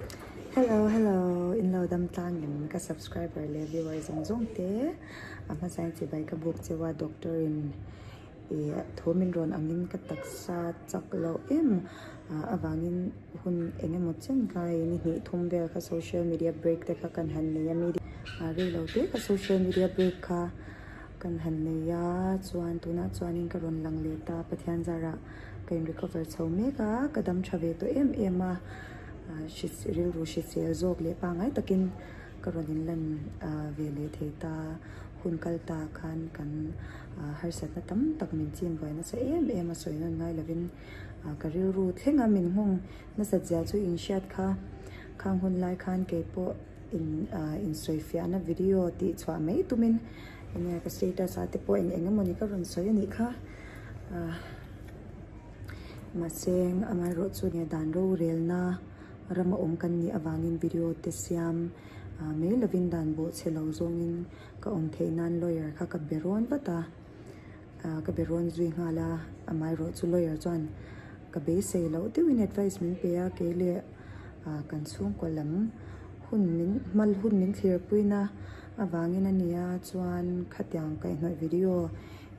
Hello hello inlo dam tlang in ka subscriber leh viewer zawng zawng te a hmasa in chibai ka buk cheu a doctor in ih thu min rawn ang in ka taksa chak loh em ah avang in hun eng emaw chen kai in i hnih thum vel kha social media break te kha kan han nei a media ah rei lo te kha social media break kha kan han nei a chuan tunah chuan in ka rawn lang leh ta Pathian zar ah ka in recover chho mek a ka dam tha ve tawh em em a. ah hrisel rilru hrisel zawk leh pangngai takin ka rawn in lan ah ve leh thei ta hun kal ta khan kan ah harsat na tam tak min chin buai nasa em em a sawi nawn ngai lovin ah ka rilru thleng a min nghawng nasat zia chu in hriat kha khang hun lai khan kei pawh in ah in sawi fiah na video tih chhuah mai tumin enge ka status ah te pawh in eng emawni ka rawn sawi a nih kha ah. Mahse, engmah erawh chu nge dan rorelna ram a awm kan nih avangin video te siam mai lovin dan bawh che lo zawngin ka awm theih nan lawyer kha ka be rawn vat a, ka be rawn zui nghal a, amah erawh chu lawyer chuan ka beisei loh deuhin advice min pe a, keileh kan chhungkaw lam hun min hmal hun min thlir puina avangin a nia chuan khatiang kaihnawih video.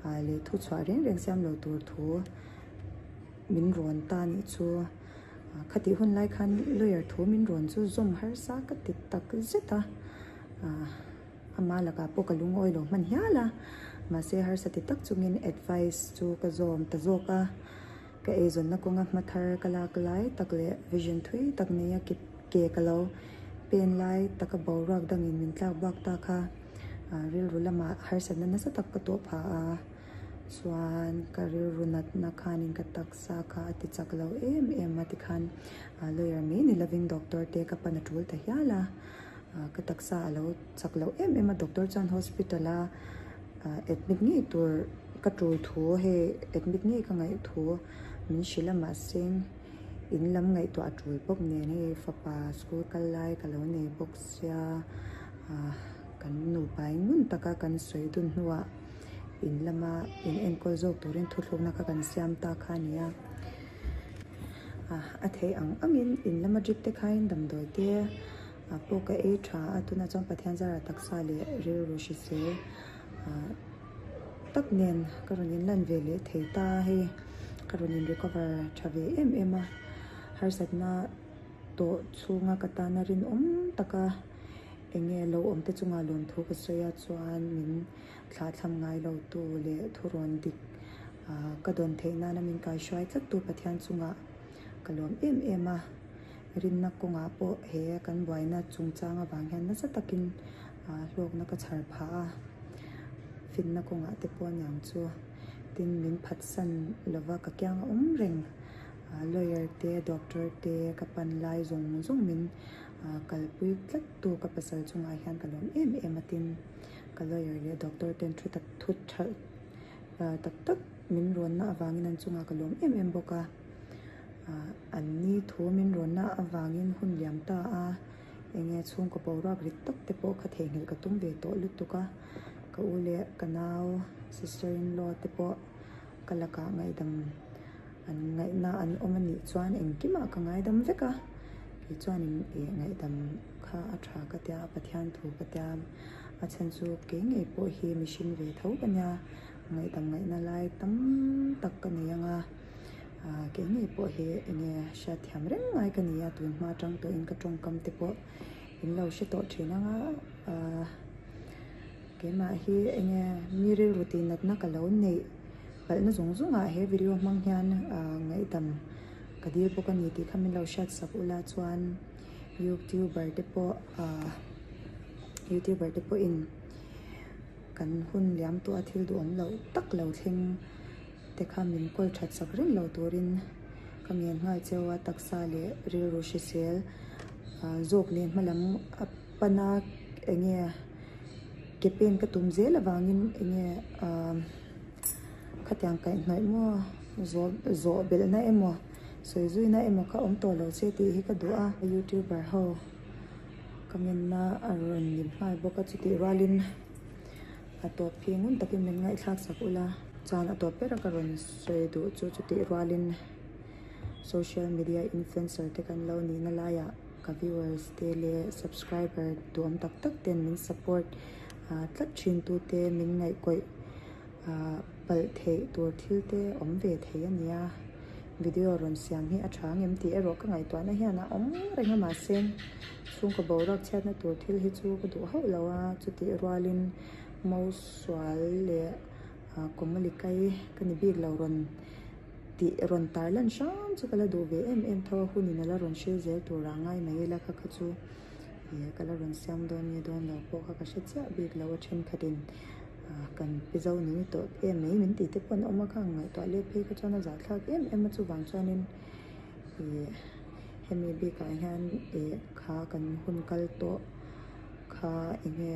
ah leh thuchhuah reng reng siam lo tur thu min rawn ta nih chu ah khatih hun lai khan lawyer thu min rawn chu zawm harsa ka ti tak zet a ah ama lakah pawh ka lungawi lo hman hial a mahse harsa ti tak chungin advice chu ka zawm ta zawk a ka eizawnna kawnga hma thar ka lak lai tak leh vision thui tak neia ke ka lo pen lai taka boruak dangin min tlak bak ta kha. ah rilru lamah harsatna nasa tak ka tawh pha a chuan ka rilru natna khan in ka taksa kha a ti chak lo em em a tikhan ah lawyer mai ni lovin doctor te ka pan a tul ta hial a ah ka taksa a lo chak loh em em a doctor chuan hospital a ah admit ngei tur ka tul thu hei admit ngei ka ngaih thu min hre la mah se in lam ngaihtuah a tul bawk nen e fapa school kal lai ka lo nei bawk si. Sia ah kan nupa eng ngun taka kan sawi dun hnuah in lama in enkawl zawk turin thuthlukna kha kan siam ta kha a ni a. Ah a thei ang angin in lama trip te khain damdawi te ah pawh ka ei tha a, tunah chuan Pathian zara taksa leh rilru hrise ah tak nen ka rawn in lan ve leh thei ta hei ka rawn in recover tha ve em em a. Harsatna. Tawh chhunga ka tan a rinawm tak a, eng nge lo awm te chungah lawmthu ka sawi a chuan min thlahthlam ngai lo tu leh thurawn dik ka dawn theih nana min kaihruai tlat tu Pathian chungah ka lawm em em a, rinna kawngah pawh he kan buaina chungchang avang hian nasa takin hlawkna ka chhar phah a, fitna kawngah te pawh niang chu tin min phatsan lova ka kiang a awm reng. Lawyer te, doctor te ka pan lai zawng zawng min kalpui tlat tu ka pasal chungah hian ka lawm em em a tin ka lawyer leh doctor ten thu tak thu tha tak tak min rawn na avangin an chungah ka lawm em em bawk a an ni thu min rawn na avangin hun liam ta a eng nge chhungkaw boruak rit tak te pawh kha theihnghilh ka tum ve tawh lutuk a ka u leh ka nau sister in law te pawh ka lakah ngaihdam. An ngaihna an awm a nih chuan engkimah ka ngaidam vek a, kei chuanin eh ngaihdam kha a tha ka tia, Pathian thu ka tia, a chhan chu kei ngei pawh hi mihring ve tho ka nia, ngaidam ngaihna lai tam tak ka nei anga ah kei ngei pawh hi enge hriatthiam reng ngai ka nia, tun hma tang tawhin ka tawngkam te pawh in lo hre tawh thin anga ah. Keimah hi enge mi rilru tih natna ka lo neih palhna zawng zawngah he video hmang hian ngaihdam ka dil bawk a ni tih kha min lo hriat sak ula chuan youtuber te pawh youtuber te pawhin kan hun liam tawh a thil duhawm loh tak lo thleng te kha min kawl that sak reng lo turin ka nghian nghal cheu a taksa leh rilru hrisel zawk leh hmalam-- Pana enge ke pen ka tum zel avangin enge ahh khatiang kaihhnawih maw zawh zawh belhna emaw sawi zuina emaw ka awm tawh lo che tih hi ka duh a. Youtuber ho comment na a rawn ni nghal bawk a chutih rualin a tawp khi ngun takin min ngaihthlak sak ula chuan a tawp bera ka rawn sawi duh chu chutih rualin social media influencer te kan lo nihna laiah-- Ka viewers te leh subscriber tuam tak tak ten min support tlat thin tu te min ngaihkawih palh theih tur thil te awm ve thei a nia. Video rawn siam hi a tha ang em tih erawh ka ngaihtuah na hian a awm reng a mahse chhungkaw boruak chhiat na tur thil hi chu ka duh hauh lo a chutih rual in Mo sual leh Komali kai ka ni bik lo rawn tih rawn tar lan hrang chu ka la duh ve em em tho a hun in a la rawn hre zel tur ah ngai mai ila kha kha chu ihh ka la rawn siam dawn nge dawn lo pawh kha ka hre chiah bik lo a thenkhat in ah kan pi zo ni ni tawh em mai min tih te pawh an awm a kha an ngaihtuah let phei kha chuan a zah thlak em em a chuvang chuan in ihh hemi bik ah hian ihh kha kan hun kal tawh kha enge.